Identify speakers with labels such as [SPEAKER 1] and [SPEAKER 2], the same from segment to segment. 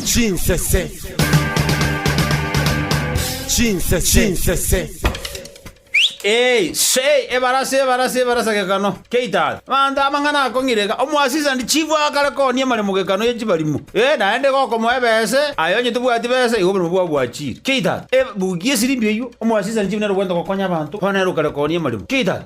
[SPEAKER 1] Chinsese. Chinsese. Chinsese. Ee, sei, ebarasa, ebarasa, ebarasa gekano. Keitaga. Abanto amang'ana akong'ireka, omoasisa ndi chifu akare koonia maremo gekano ye chibarimo. Ee, naende gokomoa ebese, aye onye tobwati bese, igo oborimo bwabo bwachire. Keitaga. Ee, bugia esirimbi eyio, omoasisa ndi chifu nere obwenerete gokonya abanto, bono nere okare koonia maremo. Keitaga.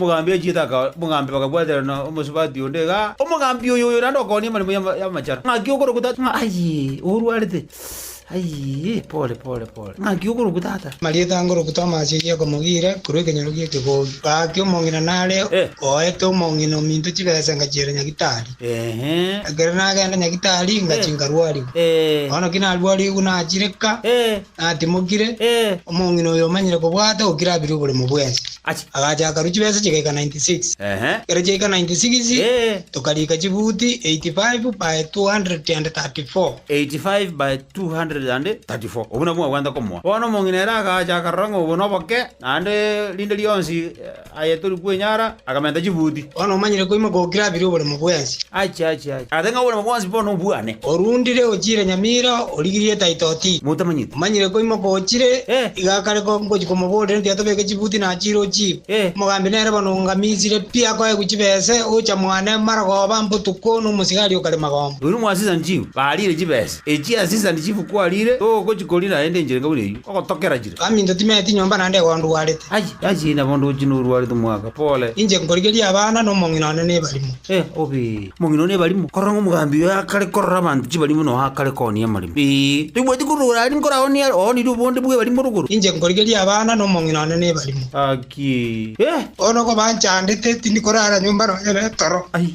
[SPEAKER 1] Omogambi achiete akaora omogambi bakabwaterana omosubati onde igaa, Omogambi oyo oyo naende okoonia emeremo y'ama- y'amachara. Ng'aki okorokwa tata? Ng'a ayii, orwarete? Ayii, pore, pore, pore. Ng'aki okorokwa tata? Marieta angorokwa Tomasi
[SPEAKER 2] oyio akomogira korwa ekenyoro gi'ekegogi. Gaki omong'ina nare Eh. oete omong'ina ominto chibesa ngachiera Nyagitari. Ehe. Ekero nagenda Nyagitari, ngachi Eh. nkarwarigwa. Eh. Bono ki narwarigwe nagachireka. Eh. Natimokire, Ee. omong'ina oyo omanyire kobwata ogokira abere oboremo bwensi. Achi. Agacha akarua chibesa chigaika 96. Ehe. Ekero chiaika 96, Ee. tokariika chibuti 85 by 234. 85
[SPEAKER 1] by 234. Obwo nabwo mwabwate komoa. Bono omong'ina ere agacha akarora ng'a obo noboke, naende rinde rionsi. Aye tori kwenyara, akamenta chibuti. Bono omanyire koima
[SPEAKER 2] gokirabire oboremo bwensi. Achia, achia, achia.
[SPEAKER 1] Ase ng'a oboremo bwonsi bono nobwane. Orundire ochiire
[SPEAKER 2] nyamira, origirie etaitoti. Motamanyeti. Omanyire koima
[SPEAKER 1] gochire,
[SPEAKER 2] Eh. iga kare ko ngochia komoborera mbuya tobeke chibuti na achiire ochiire. Eh. Omogambi nere bono ngamisire pi akoegwe chibese, ocha mwane marogoba mbotuko nomosigari okare magomba. Oino mwasisani chifu,
[SPEAKER 1] barire chibese echia asisani chifu kwarire, togochi kori naende enchera enga buna eyio, ogotokera. Baminto timeeti nyomba
[SPEAKER 2] naende igo ndwarete. Aye, aye, inee bondo ochi
[SPEAKER 1] norwarete mwaka? Pole. Inche nkorigeria abana,
[SPEAKER 2] na omong'ina one nebarimo. Eh, obe! Omong'ina
[SPEAKER 1] one nebarimo? Korora ng'omogambi oyo akare korora abanto chibarimo noyo akare koonia amarimo. Ee, toibwati korora ore aria nkoraonie are, oonirie obonde bw'ebarimo rogoro. Inche nkorigeria abana,
[SPEAKER 2] na omong'ina one nebarimo. Akie!
[SPEAKER 1] Eh! Bono okoba
[SPEAKER 2] nchandete, tindi korara nyomba nonya ne toro. Aye,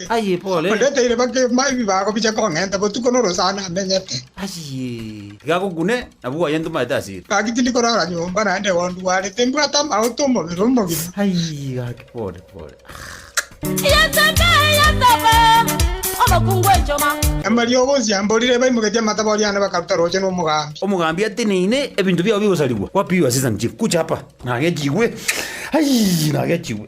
[SPEAKER 2] Ayebore. Onde taire
[SPEAKER 1] bakegma ebi
[SPEAKER 2] bagobicha kong'enta botuko norosana amenyete. Ayie.
[SPEAKER 1] Tiga agokune, na bwoye ntomaete asire. Gaki tindi korara nyomba
[SPEAKER 2] naende gondwarete, mbwate amaoto 'omobere omogima. Ayie gaki
[SPEAKER 1] pore pore.
[SPEAKER 3] Yetebe, yetebe, omokungu enchoma. Na mariogo onsi
[SPEAKER 2] amborire, baimogetie amatabao riane bakaruta rooche nomogambi. Omogambi ateneine,
[SPEAKER 1] ebinto biao bigosarigwa, kwapigwe as'esani chifu, gocha apa, nagechigwe, ayie, nagechigwe.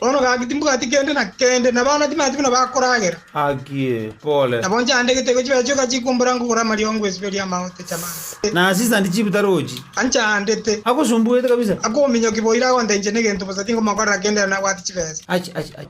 [SPEAKER 2] Bono gaki timbwati kende na kende, na abana timanti buna bakoragera.
[SPEAKER 1] Nabo nchandegete gochia
[SPEAKER 2] baiche ogachia kombora nkogora amariongo esibo eria amaote chamande.
[SPEAKER 1] Anchandete. Akominyoki boira agonta
[SPEAKER 2] inche negento bosa tinkomokorera kende ere nabwate chibesa.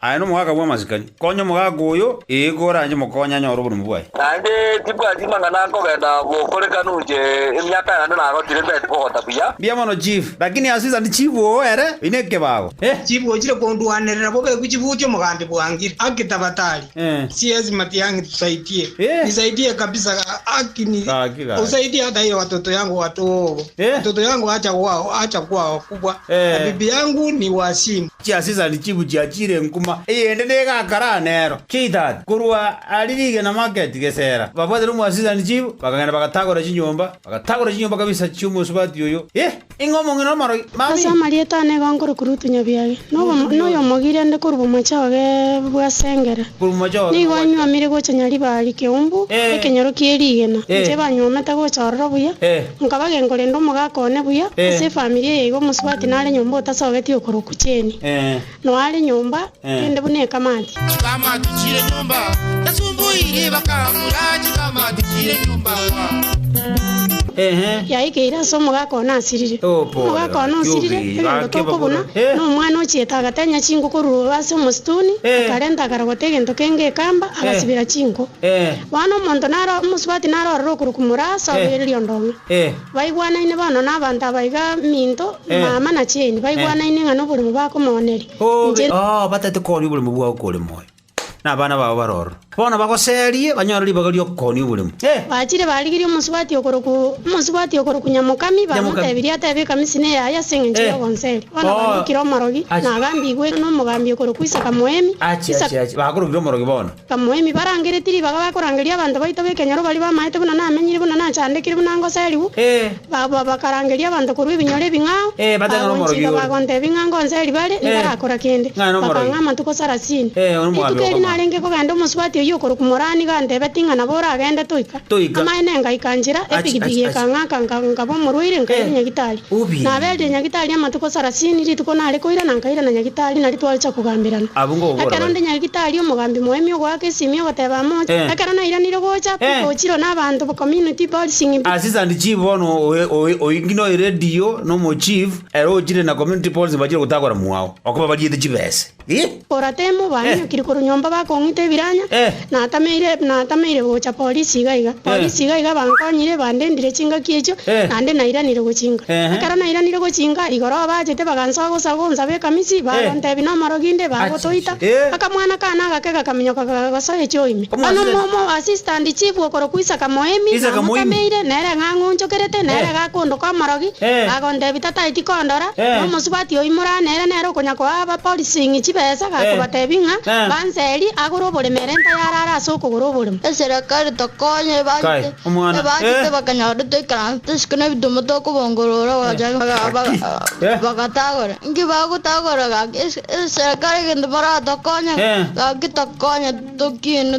[SPEAKER 4] Aye nomogaka
[SPEAKER 1] bw'amasikani, konya omogaka oyo, ee, koranche mokonye anyore oborume bwaye. Naende tibwati
[SPEAKER 4] mang'ana nkogenda bokorekanu inche emiaka yane nagotire mbete kogota buya. Mbuya mono chief,
[SPEAKER 1] lakini ase isani chief oo ere oyi nekebago. Eh, chief ochire
[SPEAKER 2] kondwanerera bobe guchibuti omogambi bwange haki tabatari. CS Matiang'i tusaitie. Nisaidie kabisa haki ni usaidie hata iyo watoto yangu watogo. Watoto yangu acha kwao acha kwao kubwa na bibi yangu ni wasimu. Chia Sisari chibu
[SPEAKER 1] chia chire nkuma, eyende negakare aa nero. Chiitata. Korwa aria rigena maketi gesera, babwatire omwasisani chibu, bakagenda bagatagora chinyomba, bagatagora chinyomba kabisa chi'omosubati oyo. Hee! Inga omong'ina omoragia, Ase Mami! amarieta
[SPEAKER 5] ane iga nkorokire otunya biage, na oyomogio rende korwa bomocha oge bwa sengera, Korwa bomocha oge nigo nogwachera. anywomire gocha nyaribari keumbu ekenyoro kie rigena, inche banywomete gocha ororo buya. Nkaba genkorenda omogaka one buya ase efamiri eye iga omosubati nare nyomba otasogeti okorokwa Jane. Noa are nyomba kende buna ekamati. Chikamati chire
[SPEAKER 6] nyomba tasumbuiri bakagura chikamati chire nyomba
[SPEAKER 5] wa. Yaikeire ase omogaka one asirire. Omogaka one osirire egento tokobuna na omwana ochiete agatenya chinko korwa ase omosituni akarenta akarogota egento kenge ekamba agasibera chinko. Bono omonto naro omosubati narorere okorwa komura ase obereria ondong'e. Baigwanaine bono nabanto aba iga minto, mama na chieni, baigwanaine ng'a noborimo bakomooneria inche. Oo, batete
[SPEAKER 1] koonia oborimo bwao kore moyo, na abana bao bare ororo. Bono bagoserie, banyore ribaga ri'okoonia oborimo. Bachire barigirie
[SPEAKER 5] omosubati okorokwa, omosubati okorokwa Nyamokami, bamotebirie atebe ekamisi neye aye ase engencho y'ogonseria. Bono barokire omorogi, na agambigwe nomogambi okorokwa Isaka Moemi. Ache, ache, ache,
[SPEAKER 1] bakorogire omorogi bono. Abamoemi barangereti
[SPEAKER 5] ribaga bakorangeria abanto baito b'ekenyoro baria bamaete buna namenyire, buna nachandekire, buna ngoserigwe, baba bakarangeria abanto korwa ebinyoro ebing'ao, bagonchika
[SPEAKER 1] bagontebia ng'a
[SPEAKER 5] ngonseri bare,
[SPEAKER 1] ntarakora
[SPEAKER 5] kende. Bakang'a amatuko sarasini. Rituko eri narenge kogenda omosubati oyio okorokwa Morani gantebeti ng'a nabo oragende toika. Toika. Amaene ngaika nchera, Achi, epigipigi achi, achi. ekang'aka, nga- nkaba omorwaire, nkaira Eh, nyagitari. ubi. Naberetie nyagitari amatuko sarasini, rituko nare koira na nkaira na nyagitari, nari twacha kogamberana. Abwo ngokobora Ekero bare. nde nyagitari, omogambi moemi ogoaka esimi ogoteeba amoche. Eh. Ekero nairanire gocha, Eh. Piko ochirwe na abanto ba community policing pi. Assistant chief bono
[SPEAKER 1] oe- oe- oe ng'ina oeredi yo, nomo chief, ere ochire na community policy bachire gotagora mwao, okobabariete chibese. Oratemo
[SPEAKER 5] baminyokire korwa nyomba bakong'ita ebiranya, natameire natameire gocha polisi iga iga. Polisi iga iga bankonyire bandendire chingaki echio naende nairanire gochinga. Ekero nairanire gochinga igoro abachete bagansoa gosa gonsabe ekamisi bagontebia nomorogi inde bagotoita. Aka mwana kane agake gakaminyoka kagagosoa echoo ime. Bono omo omo assistant chief okorokwa Isaka Moemi namotameire nere ng'a ng'onchokerete nere gakondoka omorogi, bagontebia tataeti kondora, Na omosubati oyio moraa nere nere okonyakoa abaporising' chibesa, iga akobatebia ng'a, Banseri agore oborimo ere ntayare are ase okogora oborimo. Eserekari tokonya
[SPEAKER 7] ebagite, ebagite bakanyora toikaranse tosike nebitumo tokobongorora gocha bagatagore. Inki bagotagora gaki? Eserekari egento moratokonye, gaki tokonya tokiine.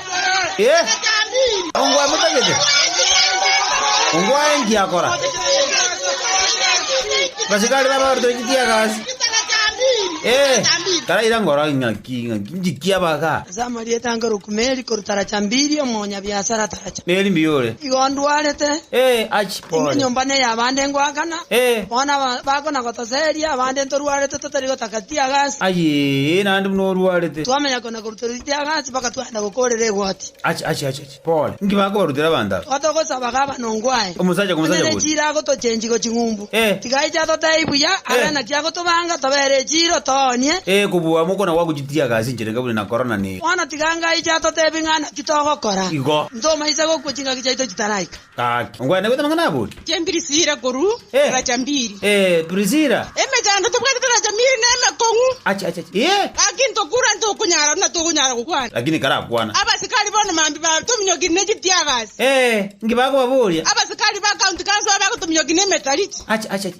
[SPEAKER 7] Ongwaemotagete? Ongwae inki akora? Abasirikari baba baruta inki tiaga ase? Eh, taraira ngoro ing'aki ing'aki njiki abaga. Ase amarieta ange
[SPEAKER 8] Rokumeli, korwa Taracambiri, omonyabiasara Taracha. Neri mbuya ore. Igo
[SPEAKER 1] ondwarete.
[SPEAKER 8] Eh, achi Inwe
[SPEAKER 1] pole. nyomba neye abande
[SPEAKER 8] ngoakana, Eh. bono aba- bakonagotoseria, abande ntorwarete totari gotaka tiaga ase. Aye, naende
[SPEAKER 1] buna orwarete. Twamenya kona. na korutera
[SPEAKER 8] ritiro anga ase bagatwenerera gokoorera egoti. Achi, achi, achi, achi, pole!
[SPEAKER 1] Inki bakobarutera abanto aba? Igo togosaba gavana
[SPEAKER 8] ongo aye, Omosacha kwa onye mosacha ne gose? chiira
[SPEAKER 1] agotochengi
[SPEAKER 8] go ching'umbu, Eh. tiga aiche atotebie buya, abe Eh. naki agotobanga, tobere echiiro, toonie. Eh, kobua amo okona
[SPEAKER 1] gwagochitiaga ase enchera enga buna na korona ne. Bono tiga anga aiche
[SPEAKER 8] atotebie ng'a naki togokora. Igo. Intwe omoisa
[SPEAKER 1] gokwa chingaki
[SPEAKER 8] chiaito chitaraika. Gaki. Onkwene goita
[SPEAKER 1] amang'ana abori. Inche Mpirisira korwa
[SPEAKER 8] Eh. Racambiri. Eh, Prisira.
[SPEAKER 1] Emechando tobwatete
[SPEAKER 8] Racambiri nemekong'u. Achi, achi, achi. Eh!
[SPEAKER 1] Gaki ntokura
[SPEAKER 8] ntokonyara buna tokonyara gokwana. Lakini karakwana.
[SPEAKER 1] Abasikari bono mambia
[SPEAKER 8] batominyokirie ne chitiagasi. Eh, inki
[SPEAKER 1] bakobaboria? Abasikari ba county
[SPEAKER 8] council babe bagotominyokia ne emetarichi. Achi, achi, achi.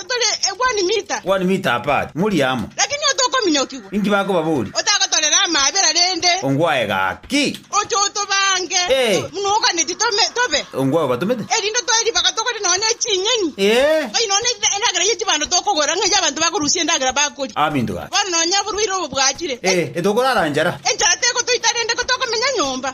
[SPEAKER 8] Tore one mita. One mita apart, muri
[SPEAKER 1] amo. Lakini otokominyokigwa.
[SPEAKER 8] Inki bakobaboria?
[SPEAKER 1] Otagotorera amaabera
[SPEAKER 8] rende. Ongwae gaki.
[SPEAKER 1] Oche otobange.
[SPEAKER 8] Ee. Buna oganetie tome, tobe. Ongwae obatomete.
[SPEAKER 1] Erinde toe ribaga togore
[SPEAKER 8] nonya eching'eni. Ee. Oi nonya endagera ye chibando tokogora, ng'a ey'abanto bakorusia endagera bakoria. Abinto gaki. Bono nonya
[SPEAKER 1] oborwaire obo
[SPEAKER 8] bwachire. Ee, etokorara nchara.
[SPEAKER 1] Enchara tegotoita rende,
[SPEAKER 8] ko tokomenya nyomba.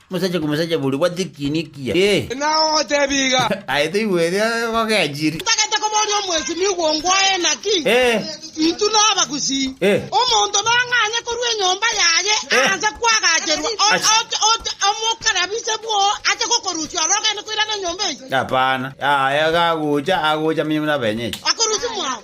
[SPEAKER 1] Mosacha komosacha boria obwate ekiina ekiya. Ee. Nao otebi
[SPEAKER 9] iga. Aye toigwete
[SPEAKER 1] gogenchiri. Ntagete koboria
[SPEAKER 8] omwesimigwa ongoye naki? Ee. Intwe nabagusii. Ee. Omonto nang'anye korwa enyomba yaye aase kwagacherwa omokarabise bwoo ache gokorusia ore ogende koirana enyomba eye? Hapana. Aye
[SPEAKER 1] gagocha, agocha amenye buna abenyeche. Akorusia mwao.